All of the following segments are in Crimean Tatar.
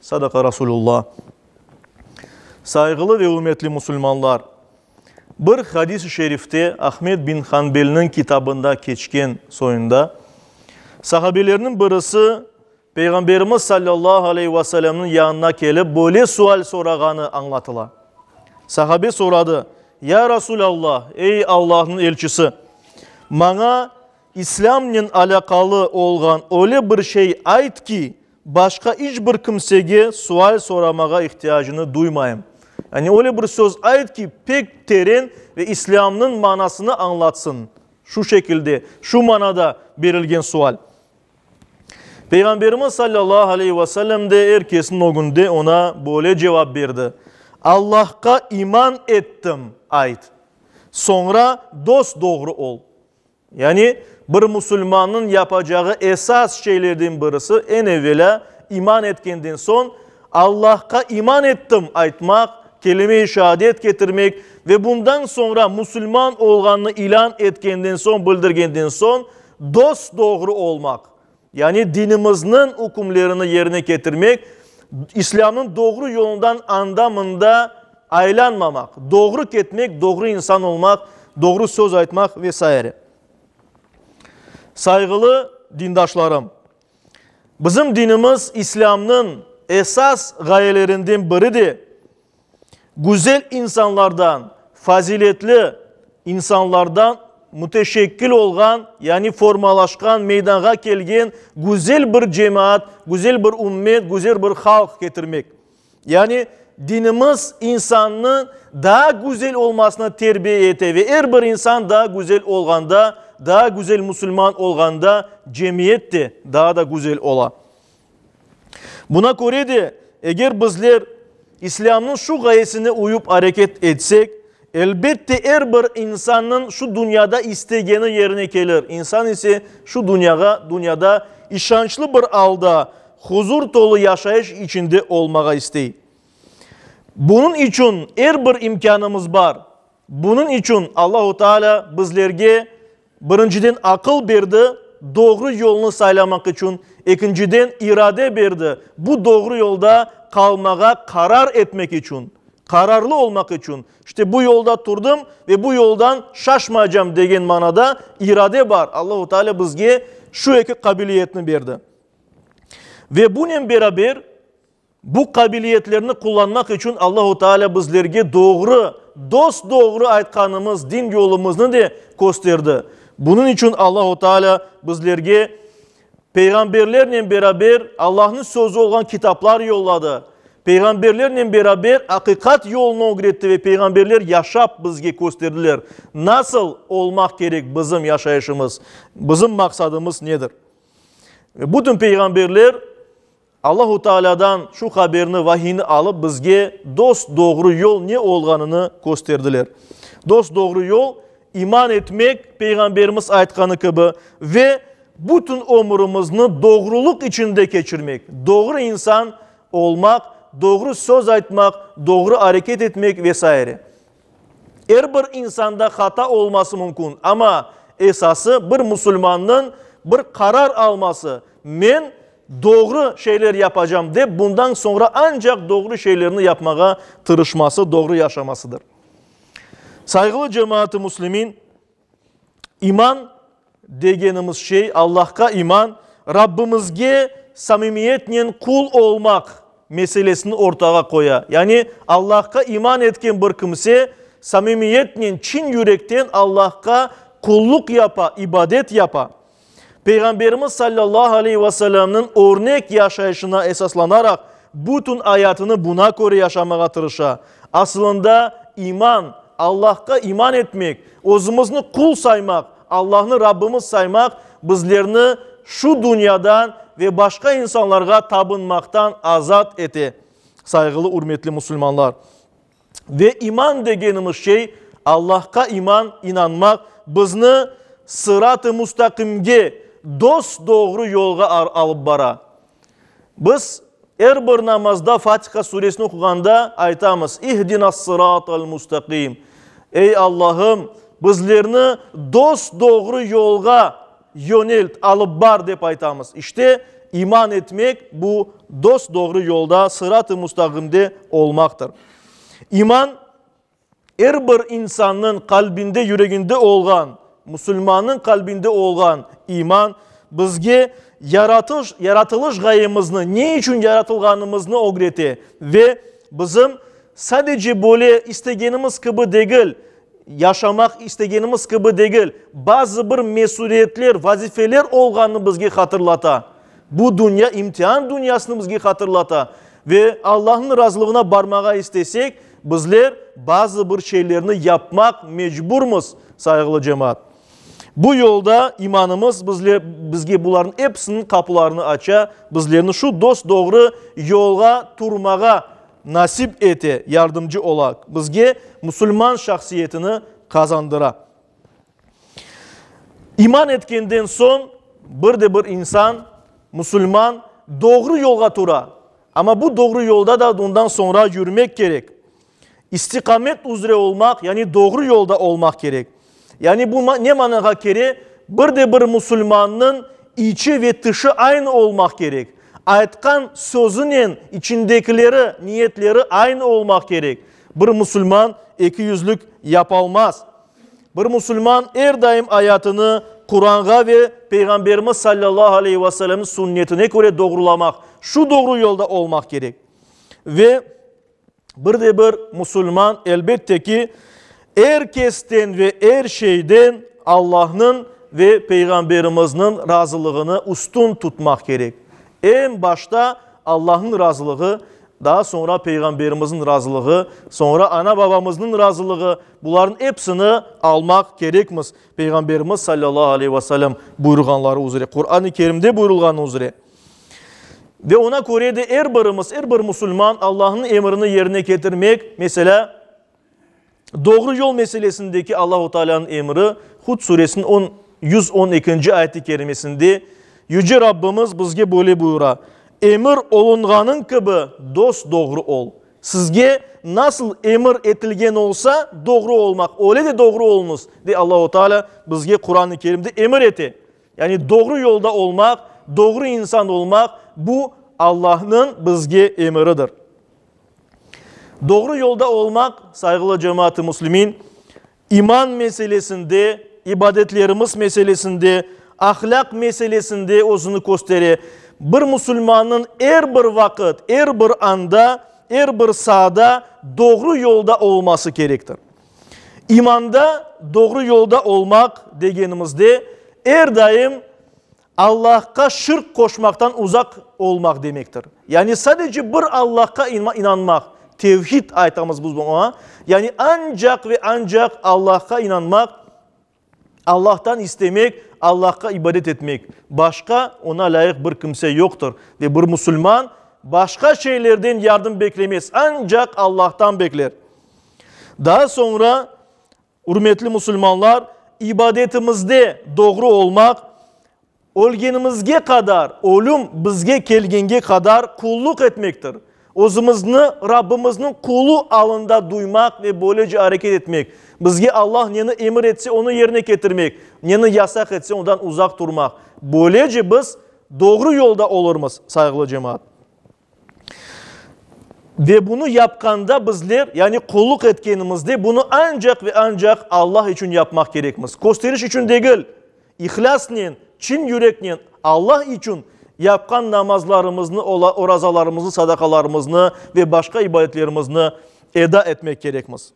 Sadaqa Rasulülla. Sayğılı ve ürmetli musulmanlar! Bir hadis-i şerifte Ahmed bin Hanbelniñ kitabında keçken soyunda, sahabelerniñ birisi Peyğamberimiz sallallahu aleyhi ve sellemniñ yanına kelip böyle sual sorağanı añlatıla. Sahabe soradı, Ya Rasulâllah, ey Allahnıñ elçisi! Maña İslâmnen alâqalı olğan öyle bir şey ayt ki, Başqa iç bir kimsege sual soramağa ihtiyacını duymayım. Yani öyle bir söz ayt ki, pek teren ve İslâmnıñ manasını añlatsın. Şu şekilde, şu manada berilgen sual. Peyğamberimiz sallallahu aleyhi ve sellem de er kesniñ ögünde oña böyle cevap berdi, Allahqa iman ettim, ayt. Soñra dos-doğru ol. Yani, bir musulmannıñ yapacağı esas şeylerden birisi, eñ evelâ, iman etkenden soñ, Allahqa iman ettim aytmaq, kelime-i şaadet ketirmek ve bundan soñra musulman olğanını ilân etkenden soñ, bildirgenden soñ, dos-doğru olmaq, Yani dinimizniñ ükümlerini yerine ketirmek, İslâmnıñ doğru yolundan anda-mında aylanmamaq, doğru ketmek, doğru insan olmaq, doğru söz aytmaq ve saire. Sayğılı dindaşlarım! Bizim dinimiz İslâmnıñ esas ğayelerinden biri de güzel insanlardan, faziletli insanlardan müteşekkil olğan, yani formalaşqan, meydanğa kelgen güzel bir cemaat, güzel bir ümmet, güzel bir halq ketirmek. Yani dinimiz insannı daa güzel olmasına terbiye ete ve er bir insan daa güzel olğanda, daa güzel musulman olğanda cemiyet de daa da güzel ola. Buna köre de, eger bizler İslâmnıñ şu ğayesine uyıp areket etsek, elbette, er bir insannıñ şu dünyada istegeni yerine kelir, insan ise şu dünyağa, dünyada işançlı bir alda, huzur tolu yaşayış içinde olmağa istey. Bunıñ içün er bir imkânımız bar. Bunıñ içün Allahu Teala bizlerge. Birinciden aqıl berdi, doğru yolnı saylamaq içün, ekinciden irade berdi, bu doğru yolda qalmağa qarar etmek içün, qararlı olmaq içün, işte bu yolda turdım ve bu yoldan şaşmaycam degen manada irade bar, Allahu Teala bizge şu eki qabiliyetni berdi. Ve bunen beraber. Bu qabiliyetlerni qullanmaq içün Allahu Teala bizlerge doğru, dos-doğru aytqanımız din yolumıznı de kösterdi. Bunıñ içün Allahu Teala bizlerge peyğamberlernen beraber Allahnıñ Sözü olğan kitaplar yolladı, peyğamberlernen beraber aqiqat yolunu ögretti ve peyğamberler yaşap bizge kösterdiler, nasıl olmaq kerek bizim yaşayışımız, bizim maqsadımız nedir. Ve bütün peyğamberler Allahu Taalâdan şu haberni, vahiyni alıp, bizge dost-doğru yol ne olğanını kösterdiler. Dost-doğru yol, iman etmek, Peyğamberimiz aytqanı kibi, ve bütün ömrümizni doğrulıq içinde keçirmek, doğru insan olmaq, doğru söz aytmaq, doğru areket etmek ve saire. Er bir insanda hata olması mümkün, amma esası bir musulmannıñ bir qarar alması, men Doğru şeyler yapacam dep, bundan soñra ancaq doğru şeylerni yapmağa tırışması, doğru yaşamasıdır. Sayğılı cemaat-ı muslimin, iman degenimiz şey, Allahqa iman, Rabbimizge samimiyetnen qul olmaq meselesini ortağa qoya. Yani, Allahqa iman etken bir kimse samimiyetnen, çın yürekten Allahqa qulluq yapa, ibadet yapa. Peyğamberimiz sallallahu aleyh ve sellemniñ örnek yaşayışına esaslanaraq, bütün ayatını buna köre yaşamağa tırışa. Asılında iman, Allahqa iman etmek, özümizni qul saymaq, Allahnı Rabbimiz saymaq bizlerni şu dünyadan ve başqa insanlarğa tabınmaqtan azat ete. Sayğılı-ürmetli musulmanlar! Ve iman degenimiz şey, Allahqa iman, inanmaq, bizni sırat-ı mustaqimge, dos-doğru yolğa alıp bara. Biz er bir namazda Fatiha suresini oquğanda aytamız, İhdinâs-sırat-al mustaqim, Ey Allahım, bizlerni dos-doğru yolğa, Yönelt, alıp bar, dep aytamız. İşte, iman etmek, bu, dos-doğru yolda, sırat-ı mustaqimde olmaqtır. İman, er bir insannıñ qalbinde, yüreginde olğan, musulmannıñ qalbinde olğan iman, bizge yaratış, yaratılış ğayemizni, ne içün yaratılğanımıznı ögrete ve bizim sadece böyle istegenimiz kibi degil, Yaşamaq istegenimiz kibi degil, bazı bir mesüliyetler, vazifeler olğanını bizge hatırlata. Bu dünya imtihan dünyasını bizge hatırlata. Ve Allahnıñ razılığına barmağa istesek, bizler bazı bir şeylerni yapmaq mecburmız, sayğılı cemaat. Bu yolda imanımız bizle, bizge bularnıñ episiniñ qapularını aça, bizlerni şu dos-doğru yolğa turmağa Nasip ete, yardımcı ola, bizge musulman şahsiyetini qazandıra. İman etkenden soñ bir de bir insan, musulman, doğru yolğa tura. Amma bu doğru yolda da ondan soñra yürmek kerek. İstiqamet üzre olmaq, yani doğru yolda olmaq kerek. Yani bu ne manağa kere, bir de bir musulmannıñ içi ve tışı aynı olmaq kerek, aytqan sözünen içindekileri, niyetleri aynı olmaq kerek. Bir musulman ekiyüzlük yapalmaz. Bir musulman er daim ayatını Quranğa ve Peyğamberimiz sallallahu aleyhi ve sellemniñ sünnetine köre doğrulamaq, şu doğru yolda olmaq kerek. Ve. Bir de bir musulman, elbette ki, er kesten ve er şeyden Allahnıñ ve Peyğamberimizniñ razılığını üstün tutmaq kerek. Eñ başta Allahnıñ razılığı, daa soñra Peyğamberimizniñ razılığı, soñra ana-babamıznıñ razılığı, bularnıñ epsini almaq kerekmiz, Peyğamberimiz sallallahu aleyhi ve sellem buyurğanları üzre, Quran-ı Kerimde buyurılğanı üzre. Ve oña köre de er birimiz, er bir musulman Allahnıñ emrini yerine ketirmek, meselâ, doğru yol meselesindeki Allahu Taalânıñ emri, Hud suresiniñ on, yüz on ekinci ayet-i kerimesinde Yüce Rabbimiz bizge böyle buyura, Emir olunğanıñ kibi dos-doğru ol. Sizge nasıl emir etilgen olsa, doğru olmaq, öyle de doğru oluñız, dep Allahu Taalâ bizge Quran-ı Kerimde emir ete. Yani doğru yolda olmaq, doğru insan olmaq, bu Allahnıñ bizge emiridir. Doğru yolda olmaq, sayğılı cemaat-ı muslimin, iman meselesinde, ibadetlerimiz meselesinde, ahlâq meselesinde özüni köstere. Bir musulmannıñ er bir vaqıt, er bir anda, er bir saada doğru yolda olması kerektir. İmanda, doğru yolda olmaq degenimizde, er daim Allahqa şirk qoşmaqtan uzaq olmaq demektir. Yani sadece bir Allahqa inanmaq, tevhid aytamız biz buña, yani ancaq ve ancaq Allahqa inanmaq, Allahtan istemek, Allahqa ibadet etmek, başqa Ona lâyıq bir kimse yoqtır ve bir musulman başqa şeylerden yardım beklemez, ancaq Allahtan bekler. Daa soñra, ürmetli musulmanlar, ibadetimizde doğru olmaq, Ölgenimizge qadar, ölüm bizge kelgenge qadar qulluq etmektir. Özümizni Rabbimizniñ qulu alında duymaq ve böylece areket etmek, bizge Allah neni emir etse, onı yerine ketirmek, neni yasaq etse, ondan uzaq turmaq. Böylece biz doğru yolda olurmız, sayğılı cemaat. Ve bunı yapqanda bizler, yani qulluq etkenimizde bunı ancaq ve ancaq Allah içün yapmaq kerekmiz. Kösteriş içün degil, ihlâsnen, çın yüreknen Allah içün yapqan namazlarımıznı, orazalarımıznı, sadaqalarımıznı ve başqa ibadetlerimizni eda etmek kerekmiz.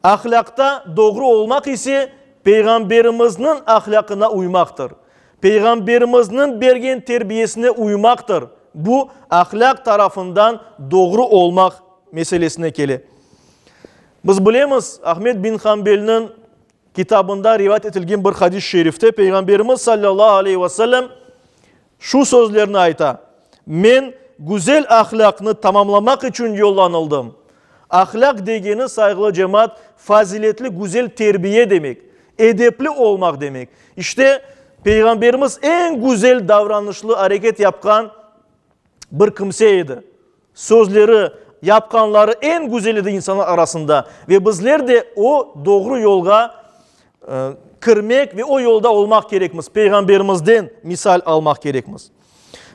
Ahlâqta doğru olmaq ise Peyğamberimizniñ ahlâqına uymaqtır. Peyğamberimizniñ bergen terbiyesine uymaqtır. Bu, ahlâq tarafından doğru olmaq meselesine kele. Biz bilemiz, Ahmet bin Hanbelniñ kitabında rivayet etilgen bir hadis-i şerifte Peyğamberimiz sallallahu aleyhi ve sellem Şu sözlerni ayta, Men güzel ahlâqnı tamamlamaq içün yollanıldım. Ahlâq degeni, sayğılı cemaat, faziletli, güzel terbiye demek, edepli olmaq demek. İşte, Peyğamberimiz eñ güzel davranışlı areket yapqan bir kimse edi. Sözleri, yapqanları eñ güzel edi insanlar arasında ve bizler de o doğru yolğa kirmek ve o yolda olmaq kerekmiz, Peyğamberimizden misal almaq kerekmiz.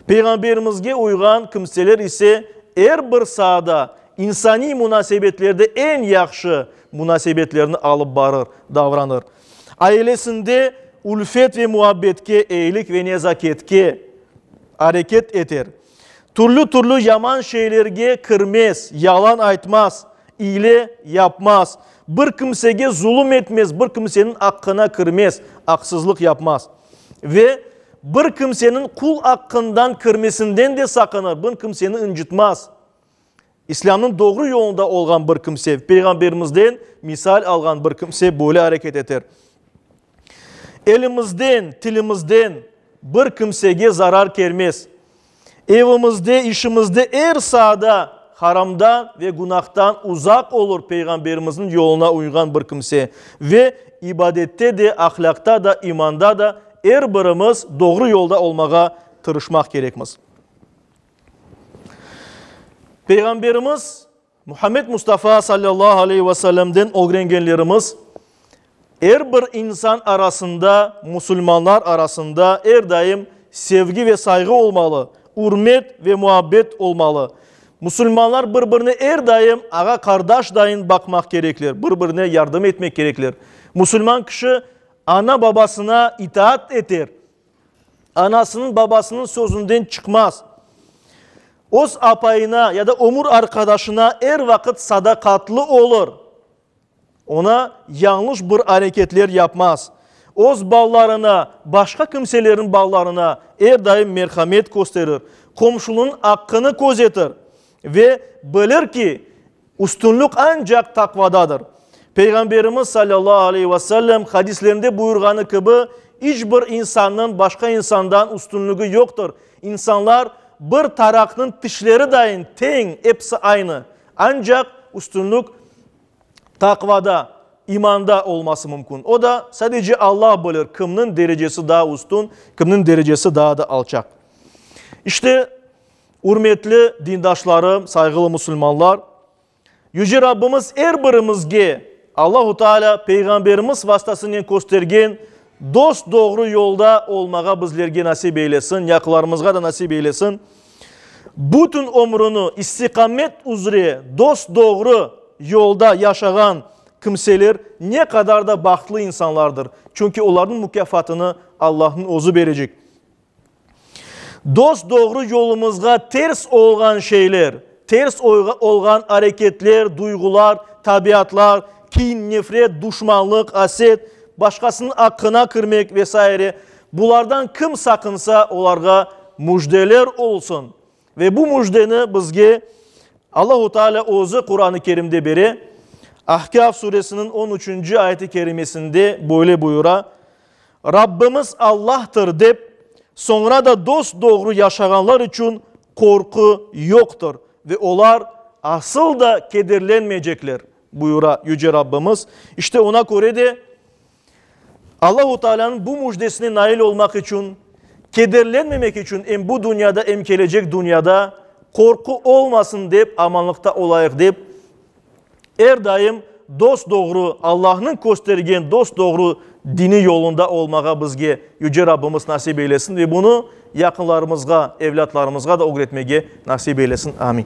Peyğamberimizge uyğan kimseler ise er bir saada insaniy munasebetlerde eñ yahşı munasebetlerni alıp barır, davranır. Ailesinde ülfet ve muabbetke, eyilik ve nezaketke areket eter. Türlü-türlü yaman şeylerge kirmez, yalan aytmaz, ile yapmaz, bir kimsege zulum etmez, bir kimseniñ aqqına kirmez, aqsızlıq yapmaz. Ve bir kimseniñ qul aqqından kirmesinden de saqınır, bir kimseni incitmaz. İslâmnıñ doğru yolunda olğan bir kimse, Peyğamberimizden misal alğan bir kimse böyle areket eter. Elimizden, tilimizden bir kimsege zarar kelmez. Evimizde, işimizde er saada haramdan ve günahtan uzaq olur Peyğamberimizniñ yoluna uyğan bir kimse. Ve ibadette de, ahlâqta da, imanda da er birimiz doğru yolda olmağa tırışmaq kerekmiz. Peyğamberimiz Muhammed Mustafa sallallahu aleyh ve sellemden ögrengenlerimiz, er bir insan arasında, musulmanlar arasında er daim sevgi ve sayğı olmalı, ürmet ve muabbet olmalı. Musulmanlar bir birine er daim ağa-qardaş dayın baqmaq kerekler, bir birine yardım etmek kerekler. Musulman kişi ana-babasına itaat eter, Anasınıñ, babasınıñ sözünden çıqmaz. Öz apayına ya da ömür arqadaşına er vaqıt sadaqatlı olur. Ona yañlış bir areketler yapmaz. Öz balalarına, başqa kimselerniñ balalarına er daim merhamet kösterir, qomşunıñ aqqını közetir. Ve bilir ki, üstünlik ancaq taqvadadır. Peyğamberimiz salâllahu aleyhi ve sellem hadislerinde buyurğanı kibi, iç bir insannıñ başqa insandan üstünligi yoqtır. İnsanlar bir taraqnıñ tişleri dayın teñ, episi aynı. Ancaq üstünlik taqvada, imanda olması mümkün. O da sadece Alla bilir, kimniñ derecesi daa üstün, kimniñ derecesi daa da alçaq. İşte, Ürmetli dindaşlarım, sayğılı musulmanlar! Yüce Rabbimiz er birimizge Allahu Teala Peyğamberimiz vastasınen köstergen dost-doğru yolda olmağa bizlerge nasip eylesin, yaqılarımızğa da nasip eylesin. Bütün ömrüni istiqamet üzre dost-doğru yolda yaşağan kimseler ne qadar da bahtlı insanlardır, çünki olarnıñ mukâfatını Allahnıñ özü berecek. Dost-doğru yolumızğa ters olğan şeyler, ters olğan areketler, duyğular, tabiatlar, kin, nefret, duşmanlıq, aset, başqasınıñ aqqına kirmek ve saire, bulardan kim saqınsa, olarğa müjdeler olsun! Ve bu müjdeni bizge Allahu Teala Özü Quran-ı Kerimde bere, Ahkâf Suresiniñ on üçünci ayet-i kerimesinde böyle buyura, Rabbimiz Allahtır dep, soñra da dost-doğru yaşağanlar içün qorqu yoqtır ve olar asıl da kederlenmeycekler, buyura Yüce Rabbimiz. İşte, oña köre de, Allahu Taalânıñ bu müjdesine nail olmaq içün, kederlenmemek içün em bu dünyada, em kelecek dünyada qorqu olmasın dep amanlıqta olayıq dep, er daim dost-doğru, Allahnıñ köstergen dost-doğru dini yolunda olmağa bizge Yüce Rabbimiz nasip eylesin ve bunı yaqınlarımızğa, evlâtlarımızğa da ögretmege nasip eylesin. Amin.